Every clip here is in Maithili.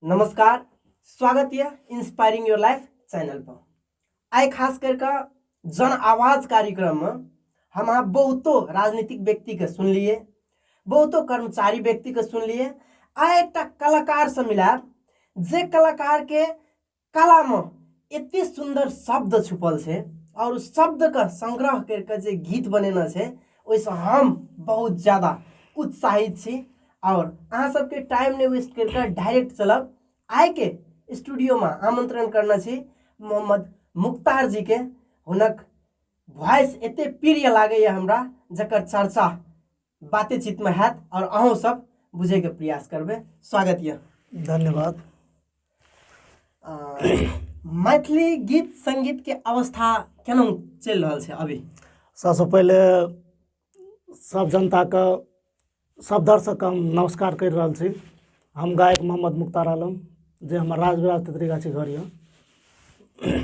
नमस्कार स्वागत यऽ इंस्पायरिंग योर लाइफ चैनल पर आइ खास कर कऽ जन आवाज कार्यक्रम में हम अहाँ बहुतो राजनीतिक व्यक्ति के सुनलिए बहुतो कर्मचारी व्यक्ति के सुनलिए आ एक कलाकार से मिलायब जे कलाकार के कलामे एते सुन्दर शब्द छुपल छै आओर शब्दके संग्रह करि कऽ जे गीत बनेने छै ओहिसँ हम बहुत ज्यादा उत्साहित छी आओर अहाँ सबके टाइम नहि वेस्ट करि कऽ डायरेक्ट चलब आइके स्टूडियोमे आमंत्रण करने छी मोहम्मद मुख्तार जीके हुनक वॉइस एते प्रिय लागैए हमरा जकर चर्चा बातेचीतमे हैत आओर अहूँ सब बुझैके प्रयास करबै स्वागत यऽ धन्यवाद आ, मैथिली गीत संगीतके अवस्था केना चलि रहल छै अभी सबसँ पहिले सब जनताके सब दर्शकके हम नमस्कार करि रहल छी हम गायक मोहम्मद मुख्तार आलम जे हमर राजविराज तेतरी गाछी घर यऽ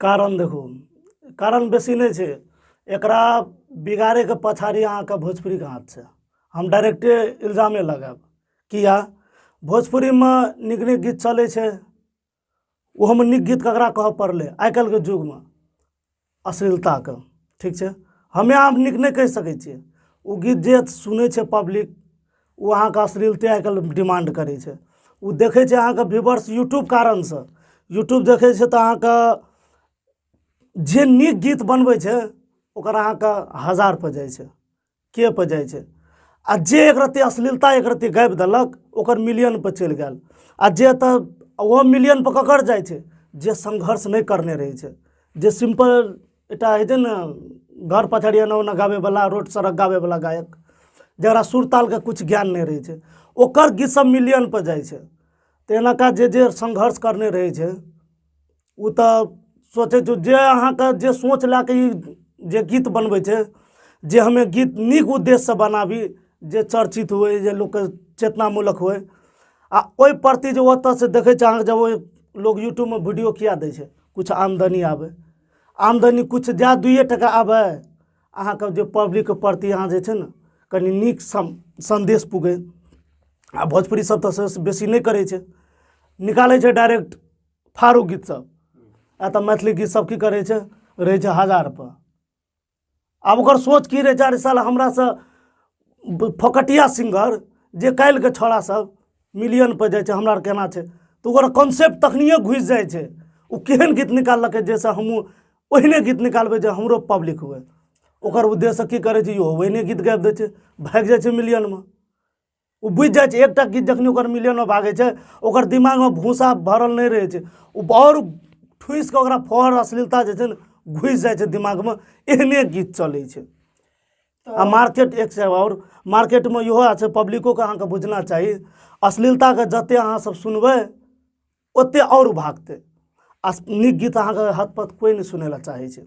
कारण देखू कारण बेसी नहि छै एकरा बिगाड़ैके पछाड़ी अहाँके भोजपुरीके हाथ छै हम डायरेक्टे इल्जामे लगायब किया भोजपुरीमे नीक नीक गीत चलै छै ओहोमे नीक गीत ककरा कहऽ पड़लै आइ काल्हिके युगमे अश्लीलताके ठीक छै हमे आब नीक नहि कहि सकै छियै ओ गीत जे सुनै छै पब्लिक ओ अहाँके अश्लीलते आइ काल्हि डिमांड करै छै ओ देखै छै अहाँके व्यूवर्स यूट्यूब कारणसँ यूट्यूब देखै छै तऽ अहाँके जे नीक गीत बनबै छै ओकर अहाँके हजार पर जाइ छै के पर जाइ छै आ जे एक रत्ती अश्लीलता एक रत्ती गाबि देलक ओकर मिलियन पर चलि गेल आ जे तऽ ओहो मिलियन पर ककर जाइ छै जे संघर्ष नहि करने रहै छै जे सिंपल एकटा होइ छै ने घर पछाड़ी एना ओना गाबैवला रोड सड़क गाबैवला गायक जकरा सुर तालके किछु ज्ञान नहि रहै छै ओकर गीत सब मिलियनपर जाइ छै तऽ एनाका जे जे संघर्ष करने रहै छै ओ तऽ सोचै छै जे अहाँके जे सोच लए कऽ ई जे गीत बनबै छै जे हमे गीत नीक उद्देश्यसँ बनाबी जे चर्चित होइ जे लोकके चेतनामूलक होइ आ ओहि प्रति जे ओतऽसँ देखै छै अहाँके जब ओहि लोग यूट्यूबमे वीडियो किए दै छै किछु आमदनी आबै आमदनी किछु जाए दुइए टका आबै अहाँके जे पब्लिकके प्रति अहाँ जे छै ने कनि नीक सम सन्देश पुगै आ भोजपुरी सब तऽ सबसँ बेसी नहि करै छै निकालै छै डायरेक्ट फाड़ू गीत सब आ तऽ मैथिली गीत सब की करै छै रहै छै हजारपर आब ओकर सोच की रहै चार साल हमरासँ फोकटिया सिंगर जे काल्हिके छौड़ा सब मिलियन पर जाइ छै हमरा केना छै तऽ ओकर कॉन्सेप्ट तखनिए घुसि जाइ छै ओ केहन गीत निकाललकै जाहिसँ हमहूँ ओहिने गीत निकालबै जे हमरो पब्लिक हुए ओकर उद्देश्य की करै छै यौ ओहिने गीत गाबि दै छै भागि जाइ छै मिलियनमे ओ बुझि जाइ छै एकटा गीत जखन ओकर मिलियनो भागै छै ओकर दिमागमे भूसा भरल नहि रहै छै ओ आओर ठुसि कऽ ओकरा फहर अश्लीलता जे छै ने घुसि जाइ छै दिमागमे एहने गीत चलै छै आ मार्केट एक छै आओर मार्केटमे इहो छै पब्लिकोके अहाँके बुझना चाही अश्लीलताके जतेक अहाँसभ सुनबै ओतेक आओर भागतै आ नीक गीत अहाँके हतपत कोइ नहि सुनै लए चाहै छै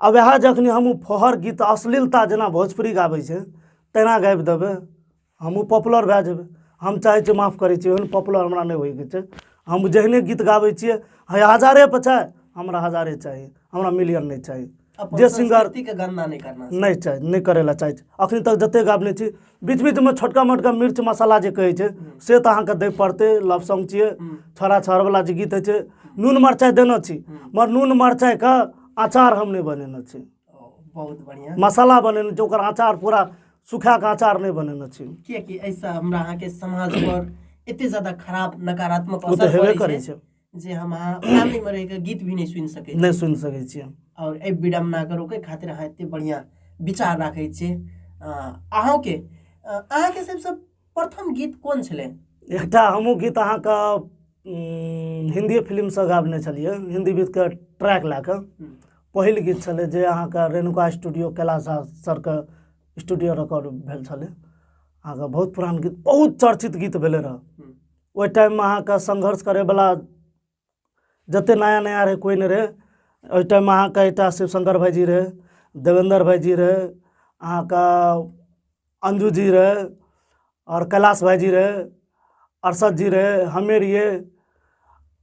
आ वएह जखन हम ओ फहर गीत अश्लीलता जेना भोजपुरी गाबै छै तेना गाबि देबै हमहूँ पॉपुलर भए जेबै हम चाहै छी माफ करै छी ओहन पॉपुलर हमरा नहि होइके छै हम जेहने गीत गाबै छियै है हजारे पर चाहे हमरा हजारे चाही हमरा मिलियन नहि चाही जे सिंगर के गणना नहि करना नहि चाही नहि करै लए चाहै छी अखन तक जते गाबने छी बीच बीचमे छोटका मोटका मिर्च मसाला जे कहै छै से तऽ अहाँके दै पड़तै लपसम छियै छोड़ा छोड़वला जे गीत होइ छै नून मरचाइ देने छी मगर नून मरचाइके अचार हम नहि बनेने छी बहुत बढ़िया मसाला बनेने छी ओकर अचार पूरा सुखा कऽ अचार नहि बनेने छी कियाकि एहिसँ हमरा अहाँके समाज पर एते ज्यादा खराब नकारात्मक ओ तऽ असर हेबे पड़ै करै छै छै जे हम अहाँ फैमिली में रह के गीत भी नहीं सुन सके नहीं सुन सके छी और ए विडम्बना के रोके खातिर अहाँ एते बढ़िया विचार राखे छी अहाँ के अहाँ के सबसे प्रथम गीत कोन छले एकटा हमहूँ गीत अहाँ का हिंदी फिल्म से गाबने छलिए हिंदी गीत के ट्रैक ला के पहिल गीत छले जे अहाँ का रेणुका स्टूडियो कैलाश सर के स्टूडियो रिकॉर्ड भेल छले अहाँ बहुत पुरान गीत बहुत चर्चित गीत भेले रहा ओहि टाइममे अहाँके संघर्ष करैवला जतेक नया नया रहै कोइ नहि रहै ओहि टाइममे अहाँके एकटा शिवशंकर भाइजी रहै देवेंद्र भाइजी रहै अहाँके अंजू जी रहै आओर कैलाश भाइजी रहै अरशद जी रहै हमे रहियै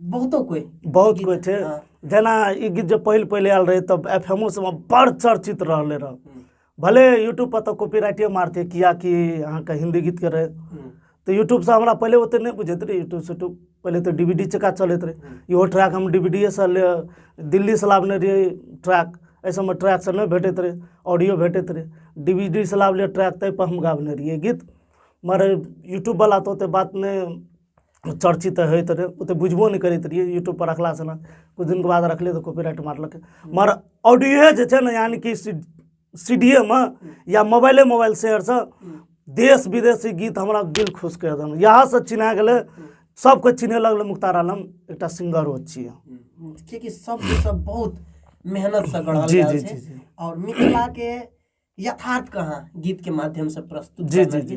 बहुतो कोइ बहुत गीत, कोइ छै हँ। जेना ई गीत जे पहिल पहिले आयल रहै तब एफ एमओ सबमे बड़ चर्चित रहले रह हम्म, भले यूट्यूब पर तऽ कॉपीराइटे मारते कियाकि अहाँके हिंदी गीत के रहै हम्म, तऽ यूट्यूब से हमरा पहिले ओते नहि बुझैत रहे यूट्यूब से यूट्यूब पहिले तऽ डीवीडी चका चलैत रहे इहो ट्रैक हम डीवीडीए से ले दिल्ली से लाबने रहिए ट्रैक एहि सबमे ट्रैक से नहि भेटैत रहे ऑडियो भेटैत रहे डीवीडी से लाबले ट्रैक ताहि पर हम गाबने रहिए गीत मगर यूट्यूब वाला तऽ ओते बात नहि चर्चित होइत रहै ओते बुझबो नहि करैत रहियै यूट्यूब पर रखला से ने कुछ दिन के बाद रखले तऽ कॉपीराइट मारलक मगर ऑडियो जे छै ने यानी कि सी डी एमे या मोबाइले मोबाइल शेयर से देश विदेशी गीत हमरा दिल खुश कर देन यहाँ से चिन्हा गेलै सबके चिन्हे लगल मुख्तार आलम एक सिंगर हो छियै कियाकि सब सब बहुत मेहनत से गढ़ल जी, जी, जी, जी। और मिथिला के यथार्थ कहाँ गीत के माध्यम से प्रस्तुत जी, जी, जी।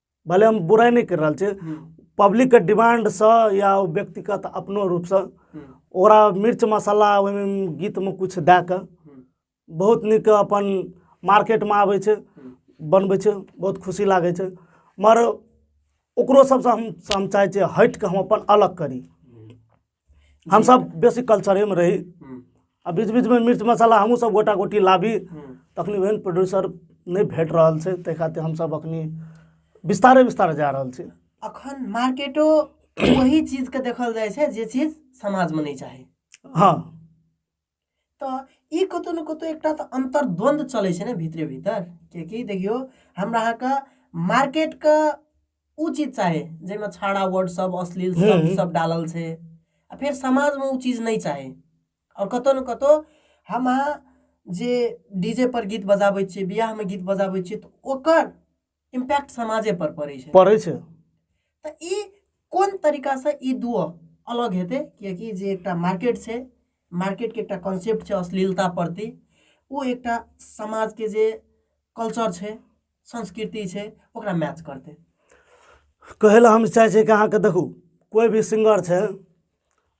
भले हम बुराइ नहि करि रहल छी पब्लिकके डिमांडसँ या ओ व्यक्तिगत अपनो रूपसँ ओकरा मिर्च मसाला ओहिमे गीतमे किछु दए कऽ बहुत नीक अपन मार्केटमे आबै छै बनबै छै बहुत खुशी लागै छै मगर ओकरो सभसँ हम हम चाहै छियै हटि कऽ हम अपन अलग करी हमसभ बेसी कल्चरेमे रही हम्म, आ बीच बीचमे मिर्च मसाला हमहूँ सब गोटा गोटी लाबी हम्म, तखनी ओहन प्रोड्यूसर नहि भेट रहल छै ताहि खातिर हमसभ अखनी विस्तारे विस्तारे जा रहल छी अखन मार्केटो वही चीज के देखल जाइ छै जे चीज समाज में नहीं चाही हँ तऽ ई कतहु ने कतहु एकटा तऽ अन्तर्द्वन्द्व चलै छै ने भितरे भीतर किएकि देखियौ हमरा अहाँके मार्केटके ओ चीज चाही जाहिमे छाड़ा वर्ड सब अश्लील सब सब डालल छै आ फेर समाजमे ओ चीज नहि चाही आओर कतहु ने कतहु हम अहाँ जे डी जे पर गीत बजाबै छियै बियाहमे गीत बजाबै छियै तऽ ओकर इम्पैक्ट समाजे पर पड़ै छै पड़ै छै तऽ ई कोन तरीकासँ ई दुओ अलग हेतै किएकि जे एकटा मार्केट छै मार्केटके एकटा कॉन्सेप्ट छै अश्लीलता प्रति ओ एकटा समाजके जे कल्चर छै संस्कृति छै ओकरा मैच करतै कहै लए हम चाहै छियै कि अहाँके देखू कोइ भी सिंगर छै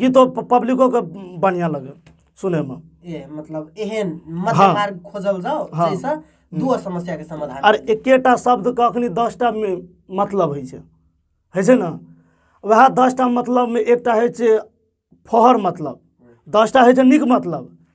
गीतो प- पब्लिको के बढ़िया लगे सुने में ए मतलब एहन मध्य हाँ। मार्ग खोजल जाओ हाँ। जैसा दू समस्या के समाधान आर एकेटा शब्द के अखनी दसटा मे मतलब होइ छै होइ छै ने वएह दसटा मतलब मे एकटा होइ छै फहर मतलब दसटा होइ छै नीक मतलब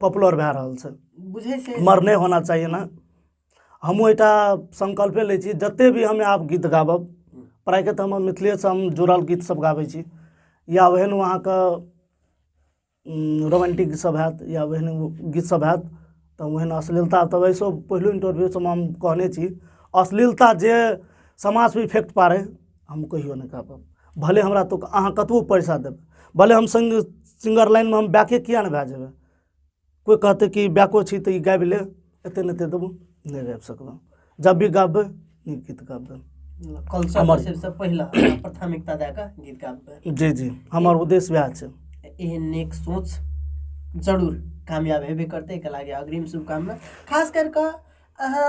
पॉपुलर भए रहल छै बुझै छै मर नहि होना चाही ने हमहूँ एकटा संकल्पे लै छी जतेक भी हमे आब गीत गाबब प्रायके तऽ हम मिथिलेसँ हम जुड़ल गीतसभ गाबै छी या ओहन अहाँके रोमांटिक गीतसभ हैत या ओहन गीतसभ हैत तऽ ओहन अश्लीलता तऽ वैसो पहिलो इंटरव्यूसभमे हम कहने छी अश्लीलता जे समाजपर इफेक्ट पाड़य हम कहियो नहि कए पायब भले हमरा तऽ अहाँ कतबो पैसा देब भले हम सिंग सिंगर लाइनमे हम बैके किए नहि भए जेबै कोइ कहतै कि बैको छी तऽ ई गाबि ले एते नहि एते देबो नहि गाबि सकबै जब भी गाबबै नीक गीत गाबबै कल्चर हमर- सबसँ पहिला अहाँ प्राथमिकता दए कऽ गीत गाबबै जी जी हमर उद्देश्य वएह छै एहन नेक सोच जरूर कामयाब हेबे करतै एहिके लागि अग्रिम शुभकामना खास करि कऽ अहाँ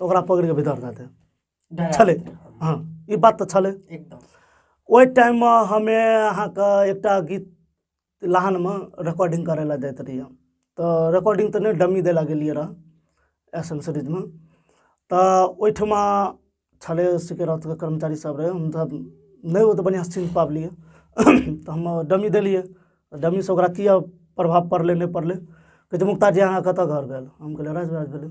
तऽ ओकरा पकड़ि कऽ भीतर दए दे डरा छलै देतै। हँ ई बात तऽ छलै एकदम ओहि टाइममे हमे अहाँके एकटा गीत लहानमे रिकॉर्डिंग करै लए जाइत रहियै तऽ रिकॉर्डिंग तऽ नहि डमी दै लए गेलियै रहए एस एम सीरीजमे तऽ ओहिठमा छलै सिकरतके कर्मचारी सब रहै हम तऽ नहि ओतेक बढ़िआँ सीन पाबलियै तऽ हम डमी देलियै डमीसँ ओकरा किए प्रभाव पड़लै नहि पड़लै कहै छै मुक्ता जी अहाँ कतऽ घर भेल हम कहलियै राजबाज भेलै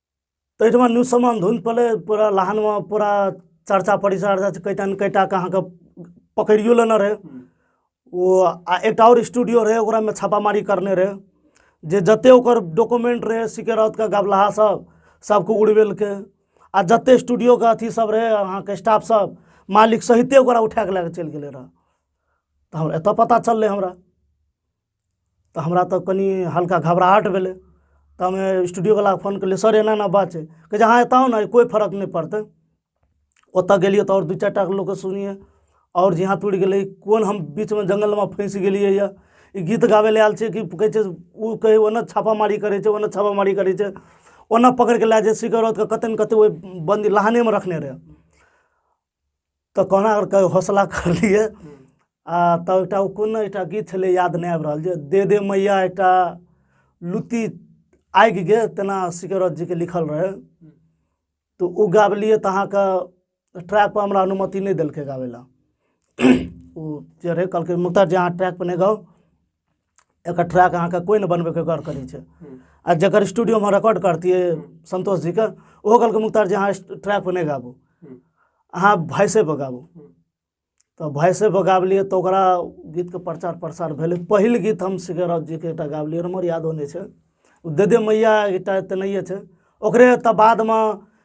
तऽ एहिठमा न्यूज समान धुन पड़लै पूरा लहानमे पूरा चर्चा परिचर्चा कैटा ने कैटाके अहाँके पकड़ियो लेने रहै ओ आ एकटा आओर स्टूडियो रहै ओकरामे छापामारी करने रहै जे जतेक ओकर डॉक्यूमेंट रहै सिकरौतके गबलाहा सब सबके उड़बेलकै आ जतेक स्टूडियोके अथी सब रहै अहाँके स्टाफ सब मालिक सहिते ओकरा उठाके लए कऽ चलि गेलै रहऽ तऽ हमरा एतऽ पता चललै हमरा तऽ हमरा तऽ कनि हल्का घबराहट भेलै तऽ हमे स्टूडियोवलाके फोन कयलियै सर एना एना बात छै कहै छै हँ एतऽ आउ ने कोइ फरक नहि पड़तै ओतऽ गेलियै तऽ आओर दू चारि टा लोकके सुनियै आओर जे हाथ उड़ि गेलै कोन हम बीचमे जङ्गलमे फँसि गेलियै यऽ ई गीत गाबै लए आयल छियै कि कहै छै ओ कहै ओन्ने छापामारी करै छै ओन्ने छापामारी करै छै ओन्ने पकड़ि कऽ लए जाइ छै सिखर औरतके कतै ने कतै ओहि बन्दी लाहनेमे रखने रहै तऽ कहुना कऽ कऽ हौसला करलियै आ तब एकटा ओ कोन एकटा गीत छलै याद नहि आबि रहल जे दे दे मैया एकटा लुत्ती आगि गे तेना सिकरत जीके लिखल रहै तऽ ओ गाबलियै तऽ अहाँके ट्रैकपर हमरा अनुमति नहि देलकै गाबै लए ओ जे रहै कहलकै मुक्ता जी अहाँ ट्रैकपर नहि गाउ एकर ट्रैक अहाँके कोइ नहि बनबैके गौर करै छै आ जकर स्टूडियोमे रिकॉर्ड करतियै संतोष जीके ओहो कहलकै मुख्तार जी अहाँ ट्रैक पर नहि गाबू अहाँ वॉइसे पर गाबू तऽ वॉइसे पर गाबलियै तऽ ओकरा गीतके प्रचार प्रसार भेलै पहिल गीत हम सिकरत जीके एकटा गाबलियै हमर यादो नहि छै ओ दे दे मैया एकटा तेनाहिए छै ओकरे तऽ बादमे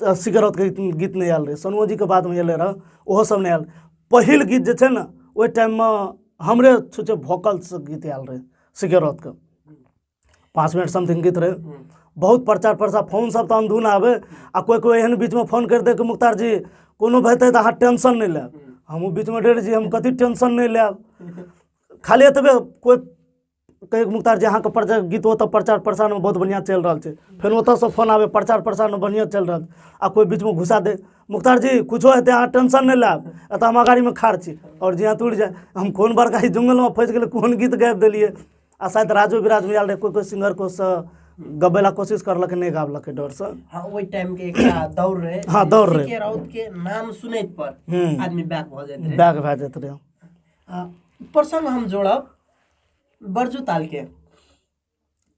स- सिगरत के गीत- गीत नहि आयल रहै सोनमो जीके बादमे अयलै रहऽ ओहो सब नहि आयल पहिल गीत जे छै ने ओहि टाइममे हमरे छुच्छे भोकलसँ गीत आयल रहै सिगरतके पाँच मिनट समथिंग गीत रहै बहुत प्रचार प्रसार फोन सब तऽ अनधुन आबै आ कोइ कोइ एहन बीचमे फोन करि दै कि मुख्तार जी कोनो भए तऽ अहाँ टेंशन नहि लेब हमहूँ बीचमे डरि जी हम कथी टेंशन नहि लेब खाली एतबे कोइ कहियो कहियो मुख्तार जी अहाँके प्रचार गीत ओतऽ प्रचार प्रसारमे बहुत बढ़िआँ चलि रहल छै फेर ओतऽसँ फोन आबै प्रचार प्रसारमे बढ़िआँ चलि रहल आ कोइ बीचमे घुसा दे मुख्तार जी किछो हेतै अहाँ टेंशन नहि लायब एतऽ हम अगाड़ीमे खाड़ छी आओर जे अतुर जे हम कोन बड़का ई जंगलमे फँसि गेलै कोन गीत गाबि देलियै आ शायद राजो विराजमे आयल रहै कोइ कोइ सिंगर कोसँ गबै लए कोशिश करलकै नहि गाबलकै डरसँ हाँ ओहि टाइम के एकटा दौड़ रहे हाँ, दौड़ रहे। के राउत के नाम सुनैत पर हम्म। आदमी बैक भऽ जाइत रहे बैग भए जाइत रहै आ प्रसंग हम जोड़ब बर्जू ताल के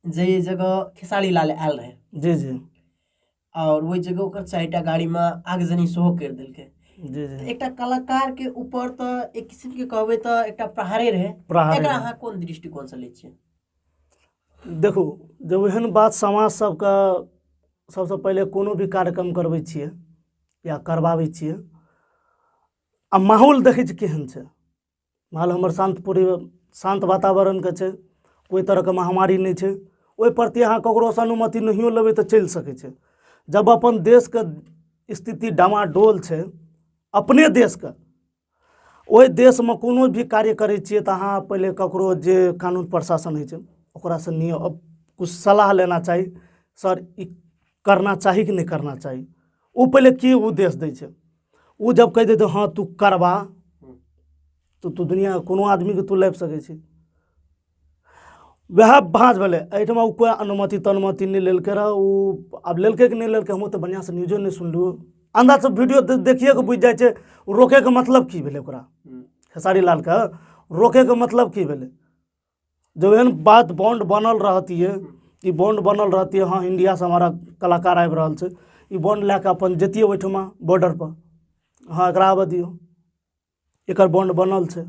जे जगह खेसारी लाल आयल रहे जी जी और ओहि जगह ओकर चारि टा गाड़ी में आगजनी सेहो करि देलकै जी जी एकटा कलाकार के ऊपर तऽ एक किसिम के कहबै तऽ एकटा प्रहारे रहे प्रहारे एकरा रहे। अहाँ कोन दृष्टिकोण से लै छियै देखू जब एहन बात समाज सबके सबसँ पहिले कोनो भी कार्यक्रम करबै छियै या करबाबै छियै आ माहौल देखै छी केहन छै माहौल हमर शान्त पूरे शान्त वातावरणके छै कोइ तरहके महामारी नहि छै ओहि प्रति अहाँ ककरोसँ अनुमति नहियो लेबै तऽ चलि सकै छै जब अपन देशके स्थिति डामाडोल छै अपने देशके ओहि देशमे कोनो भी कार्य करै छियै तऽ अहाँ पहिले ककरो जे कानून प्रशासन होइ छै ओकरासँ निय किछु सलाह लेना चाही सर ई करना चाही कि नहि करना चाही ओ पहिले की उद्देश्य दै छै ओ जब कहि देतै हँ तू करबा तऽ तू दुनिया कोनो आदमीके तू लाबि सकै छी वएह भाँज भेलै एहिठाम ओ कोइ अनुमति तनुमति नहि लेलकै रह ओ आब लेलकै कि नहि लेलकै हमहूँ तऽ बढ़िआँसँ न्यूजो नहि सुनलहुँ अन्दाजसँ वीडियो देखिए कऽ बुझि जाइ छै रोकैके मतलब की भेलै ओकरा खेसारी लालके रोकैके मतलब की भेलै जब एहन बात बॉन्ड बनल रहतियै ई बॉन्ड बनल रहतियै हँ इंडियासँ हमारा कलाकार आबि रहल छै ई बॉन्ड लए कऽ अपन जैतियै ओहिठमा बॉर्डरपर हँ एकरा आबऽ दियौ एकर बॉन्ड बनल छै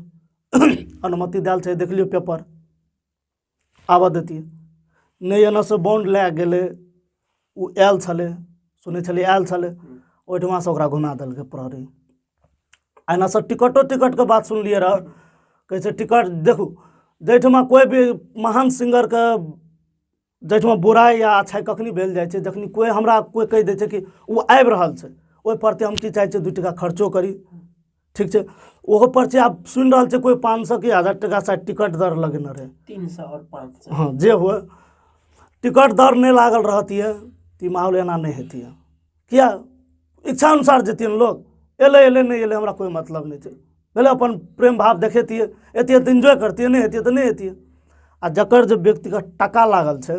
अनुमति देल छै देख लियौ पेपर आबऽ देतियै नहि एनऽसँ बॉन्ड लए गेलै ओ आयल छलै सुनै छलियै आयल छलै ओहिठमासँ ओकरा घुमा देलकै प्रहरी एनासँ टिकटो टिकटके बात सुनलियै रहऽ कहै छै टिकट देखू जाहिठमा कोइ भी महान सिंगरके जाहिठमा बुराइ या अच्छाइ कखनी भेल जाइ छै जखनी कोइ हमरा कोइ कहि दै छै कि ओ आबि रहल छै ओहि प्रति हम की चाहै छियै दू टाका खर्चो करी ठीक छै ओहो पर छै आब सुनि रहल छै कोइ पाँच सए कि हजार टाका शायद टिकट दर लगेने रहै तीन सए आओर पाँच सए हँ जे हुए टिकट दर नहि लागल रहतियै तऽ ई माहौल एना नहि हेतियै किया इच्छा अनुसार जेतियनि लोक एलै एलै नहि एलै हमरा कोइ मतलब नहि छै भेलै अपन प्रेम भाव देखेतियै एतियै तऽ इन्जॉय करतियै नहि हेतियै तऽ नहि हेतियै आ जकर जे व्यक्तिगत टाका लागल छै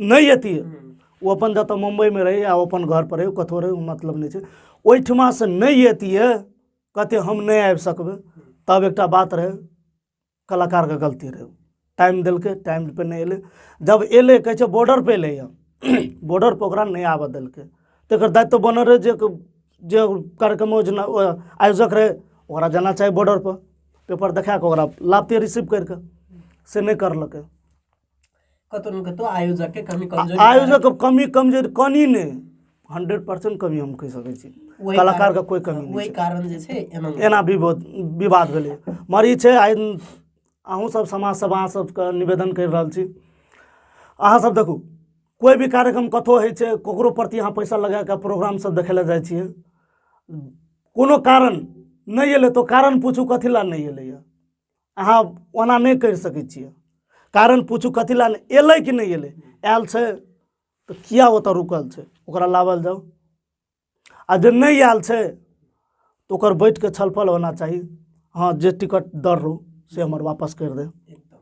नहि अथी ओ अपन जतऽ मुम्बइमे रहै आ अपन घर पर रहै कतहु रहै मतलब नहि छै ओहिठमा से नहि अतिए कहते हम नहि आबि सकबै तब एकटा बात रहै कलाकारके गलती रहै टाइम देलकै टाइम पर नहि एलै जब एलै कहै छै बॉर्डर पर एलै बॉर्डर पर ओकरा नहि आबऽ देलकै तकर दायित्व बनल रहै जे जे कार्यक्रम योजना आयोजक रहै ओकरा जाना चाही बॉर्डर पर पेपर देखा कऽ ओकरा लाबते रिसीव करि कऽ से नहि करलकै कतहु ने कतहु आयोजकके कमी कमजोरी आयोजक के कमी कमजोरी कनी नहि हंड्रेड परसेंट कमी हम कहि सकैत छी ओहि कारण- कलाकार के कोई कमी नहि ओहि कारण जे छै एना एना विवाद विवाद भेलै मगर ई छै आइ अहूँ सब समाज सब अहाँ सबके निवेदन करि रहल छी अहाँ सब देखू कोइ भी कार्यक्रम कतहु होइ छै ककरो प्रति अहाँ पैसा लगा कऽ प्रोग्राम सब देखै लए जाइ छियै कोनो कारण नहि एलै तऽ ओ कारण पूछू कथी लए नहि एलैए अहाँ ओना नहि करि सकै छियै कारण पूछू कथी लए नहि एलै कि नहि एलै आयल छै तऽ किया ओतऽ रुकल छै ओकरा लाबल जाउ आ जे नहि आयल छै तऽ ओकर बैठ कऽ छलफल होना चाही हँ जे टिकट दर रहू से हमर वापस करि दे एकदम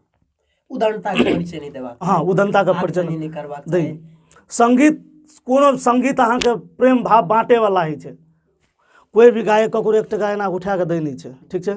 उदारता के परिचय नहीं देबाक हँ उदंता के परिचय आगजनी नहीं करबाक दै चाही संगीत कोनो संगीत अहाँके प्रेम भाव बाँटेवला होइ छै कोइ भी गायक ककरो एक टका एना उठा कऽ दै नहि छै ठीक छै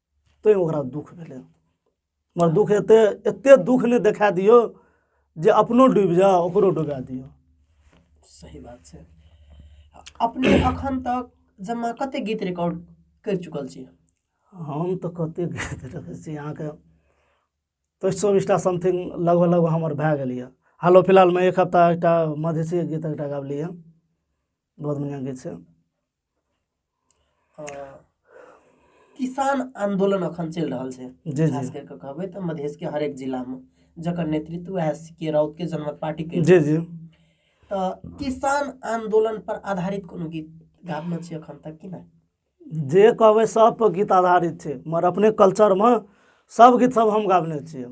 तैँ ओकरा दुःख भेलै मगर दुःख एते एते दुःख नहि देखा दियौ जे अपनो डूबि जाओ ओकरो डुबा दियौ सही बात छै अपने अखन तक जमा कते गीत रिकॉर्ड करि चुकल छी हम तऽ कते गीत रखै छी अहाँके तऽ चौबीसटा समथिंग लगभग लगभग हमर भए गेल यऽ हालो फिलहालमे एक हफ्ता एकटा मधेसी गीत एकटा गाबली यऽ बहुत बढ़िआँ गीत छै किसान आंदोलन अखन चलि रहल छै जी, जी। खास करि कऽ कहबै तऽ मधेश के हरेक जिला मे जकर नेतृत्व वएह सी के राउत के जनमत पार्टी के जी जी तऽ किसान आंदोलन पर आधारित कोनो गीत गाबने छी अखन तक कि नहि जे कहबै सब पर गीत आधारित छै मगर अपने कल्चरमे सब गीत सब हम गाबने छियै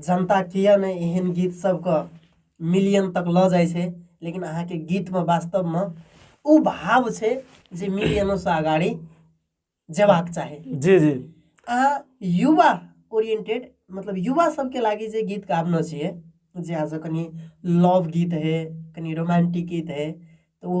जनता किया ने एहन गीत सबके मिलियन तक लऽ जाइ छै लेकिन अहाँके गीतमे वास्तवमे ओ भाव छै जे मिलियनोसँ अगाड़ी जेबाक चाही जी जी अहाँ युवा ओरिएंटेड मतलब युवा सबके लागि जे गीत गाबनो छियै जे आज कनि लव गीत है कनि रोमांटिक गीत है तऽ ओ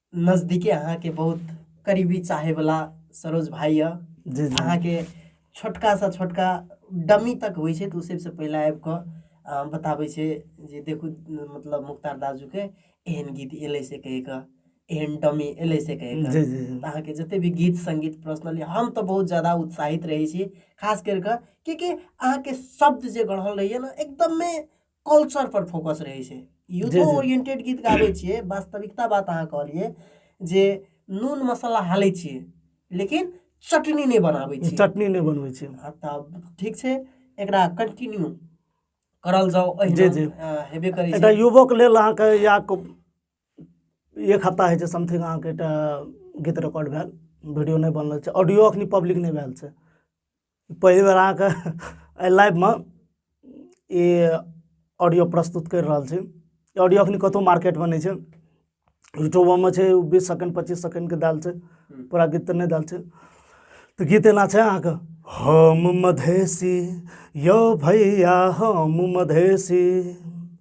नजदीके अहाँके बहुत करीबी चाहे वाला सरोज भाई यऽ जी जी अहाँके छोटका सा छोटका डमी तक होइ छै तऽ ओ सबसँ पहिले आबि कऽ अ, बताबै छै जे देखू मतलब मुख्तार दाजूके एहन गीत एलै से कहि कऽ एहन डमी एलै से कहि कऽ जी जी जी तऽ अहाँके जते भी गीत संगीत पर्सनली हम तऽ बहुत ज्यादा उत्साहित रहै छी खास करि कऽ किएकि अहाँके शब्द जे गढ़ल रहैए ने एकदमे कल्चर पर फोकस रहै छै युद्धो जी, जी। ओरिएंटेड गीत गाबै छियै वास्तविकता बात अहाँ कहलियै जे नून मसाला हालै छियै लेकिन चटनी नहि बनाबै छियै चटनी नहि बनबै छै आ तब ठीक छै एकरा कंटिन्यू करल जाओ जी, अहिना जी। अ, हेबे करै एकटा छै युवक लेल अहाँके या को- एक हफ्ता होइ छै समथिंग अहाँके एकटा गीत रिकॉर्ड भेल वीडियो नहि बनल छै ऑडियो अखनी पब्लिक नहि भेल छै पहिल बेर अहाँके एहि लाइफमे ई ऑडियो प्रस्तुत करि रहल छी ऑडियो एखन कतहु मार्केटमे नहि छै यूट्यूबोमे छै बीस सेकेंड पच्चीस सेकेंडके देल छै पूरा गीत तऽ नहि देल छै तऽ गीत एना छै अहाँके हम मधेसी यौ भैया हम मधेसी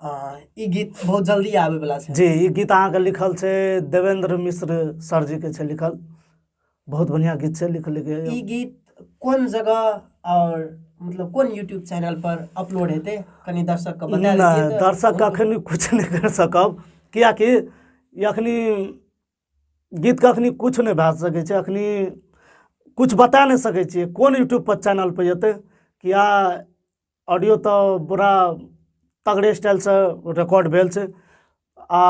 हँ, ई गीत बहुत जल्दी आबे वाला छै जी ई गीत अहाँके लिखल छै देवेंद्र मिश्र सर जी के छै लिखल बहुत बढ़िया गीत छै लिख लिख ई गीत कोन जगह और मतलब कोन यूट्यूब चैनल पर अपलोड हेतै कनि दर्शक के बता नहि दिअ तऽ दर्शक अखन कुछ नहि कर सकब कियाकि ई अखनी गीत के अखनी कुछ नहि भए सकै छै अखनी कुछ बता नहि सकै छियै कोन यूट्यूब पर चैनल पर जेतै किया ऑडियो तऽ पूरा तगड़े स्टाइलसँ रिकॉर्ड भेल छै आ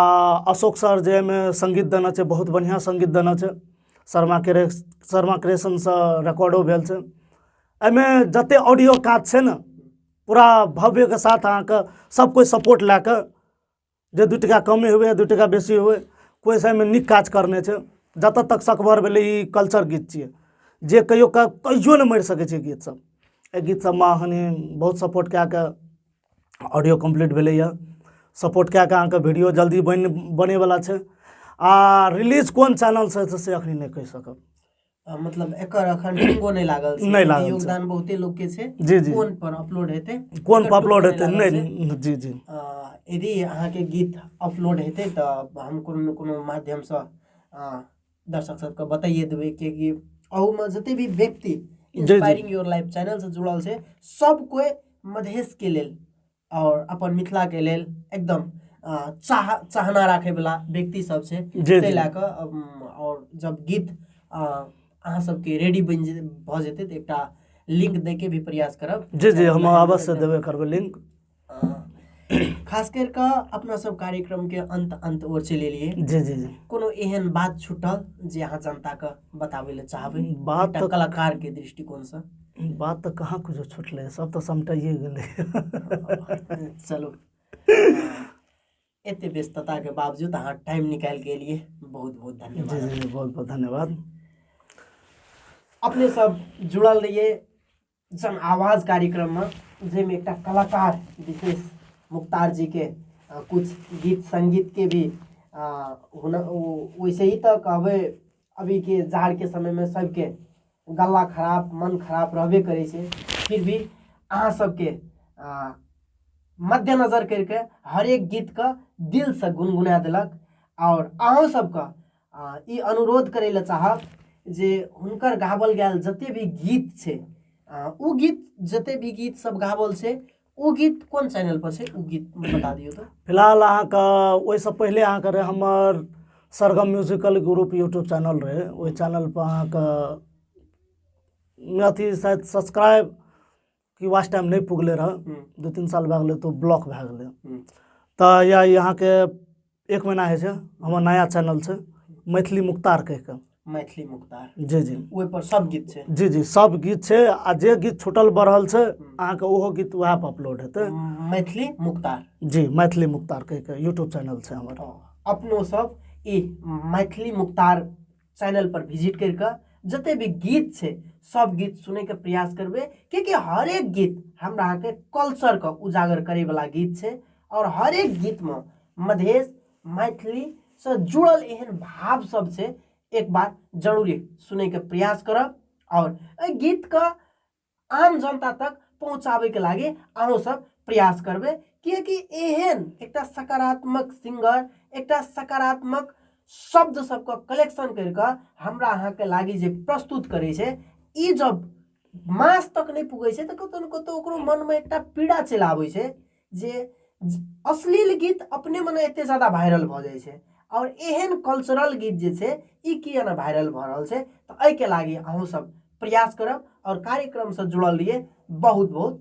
अशोक सर जे एहिमे सङ्गीत देने छै बहुत बढ़िआँ सङ्गीत देने छै शर्मा क्रे शर्मा क्रिएशनसँ रिकॉर्डो भेल छै एहिमे जते ऑडियो काज छै ने पूरा भव्यके साथ अहाँके सब कोइ सपोर्ट लए कऽ जे दू टाका कमे हुए दू टाका बेसी हुए कोइ साइडमे नीक काज करने छै जतऽ तक सकबर भेलै ई कल्चर गीत छियै जे कहियो का कहियो नहि मरि सकै छै गीत सब एहि गीत सबमे अहाँ बहुत सपोर्ट कए कऽ ऑडियो कम्प्लीट भेलैए सपोर्ट कए कऽ अहाँके वीडियो जल्दी बनि बनैवला छै आ रिलीज कोन चैनलसँ हेतै से एखन नहि कहि सकब अ, मतलब एकर अखन टुंगो नहि लागल छै नहि लागल छै। योगदान बहुते लोग के छै जी, जी। कोन पर अपलोड हेतै कोन एकर पर अपलोड टुंगो हेतै लागल छै। नहि जी जी अ, यदि अहाँके गीत अपलोड हेतै तऽ हम कोनो ने कोनो माध्यमसँ अ, दर्शक सबके बताइए देबै किएकि अहूमे जते भी व्यक्ति जी। इंस्पायरिंग योर लाइफ चैनल से जुड़ल छै सब कोइ मधेश के लेल आओर अपन मिथिलाके लेल एकदम अँ, चाह चाहना राखैवला व्यक्ति सब छै जी, ताहि जी। लए कऽ अम, आओर जब गीत अँ, अहाँ सबके रेडी बनि जे भऽ जेतै तऽ एकटा लिंक दैके भी प्रयास करब जी जी हम अवश्य देबे करबै लिंक अँ, खास करि कऽ अपना सब कार्यक्रमके अंत अंत ओर चलि एलियै जी जी जी कोनो एहन बात छुटल जे अहाँ जनताके बताबै लए चाहबै बात एकटा तऽ- कलाकारके दृष्टिकोणसँ बात तऽ कहाँ किछो छुटलै सब तऽ समटाइए गेलै चलू एते व्यस्तता के बावजूद अहाँ टाइम निकालि के एलिए बहुत बहुत जी धन्यवाद जी जी बहुत बहुत धन्यवाद अपने सब जुड़ल रहिए जन आवाज कार्यक्रम में जाहिमे एकटा कलाकार विशेष मुख्तार जी के अ, कुछ गीत संगीत के भी अ, हुन ओ- वैसे ही तऽ कहबै अभी के जाड़ के समय में सबके गला खराब मन खराब रहबे करे से फिर भी अहाँ सबके आ, मद्देनजर करके हरेक गीत का दिल से गुनगुना देलक और अहूँ सबके आ, ई अनुरोध करे ले चाहब जे हुनकर गावल गैल जते भी गीत छै आ, उ गीत जते भी गीत सब गावल छै ओ गीत कोन चैनल पर छै ओ गीत बता दियौ तऽ फिलहाल अहाँके ओहिसँ पहिले अहाँके रहै हमर Sargam musical group YouTube channel रहै ओहि चैनल पर अहाँके अथी शायद सब्सक्राइब कि वाच टाइम नहि पुगलै रहए दू तीन साल भए गेलै तऽ ओ ब्लॉक भए गेलै तऽ या अहाँके एक महीना होइ छै हमर नया चैनल छै मैथिली मुख्तार कहि कऽ मैथिली मुख्तार जी जी ओहिपर सब गीत छै जी जी सब गीत छै आ जे गीत छूटल बढ़ल छै अहाँके ओहो गीत उएह पर अपलोड हेतै मैथिली मुख्तार जी मैथिली मुख्तार कहि कऽ यूट्यूब चैनल छै हमर अपनो सब ई मैथिली मुख्तार चैनलपर विजिट करि कऽ जते भी गीत छै सब गीत सुनैके प्रयास करबै किएकि हरेक गीत हमरा अहाँके कल्चरके उजागर करैवला गीत छै आओर हरेक गीतमे मधेश मैथिलीसँ जुड़ल एहन भाव सब छै एक बार जरूरे सुनैके प्रयास करब आओर एहि गीतके आम जनता तक पहुँचाबैके लागि अहूँ सब प्रयास करबै किएकि एहन एकटा सकारात्मक सिंगर एकटा सकारात्मक शब्द सबके कलेक्शन करि कऽ हमरा अहाँके लागि जे प्रस्तुत करै छै ई जब मास तक नहि पुगै छै तऽ कतौ ने कतौ ओकरो मनमे एकटा पीड़ा चलि आबै छै जे अश्लील गीत अपने मने एतेक ज्यादा भाइरल भऽ जाइ छै आओर एहन कल्चरल गीत जे छै ई किए नहि भाइरल भऽ रहल छै तऽ एहिके लागी अहूँसभ प्रयास करब आओर कार्यक्रमसँ जुड़ल रहियै बहुत बहुत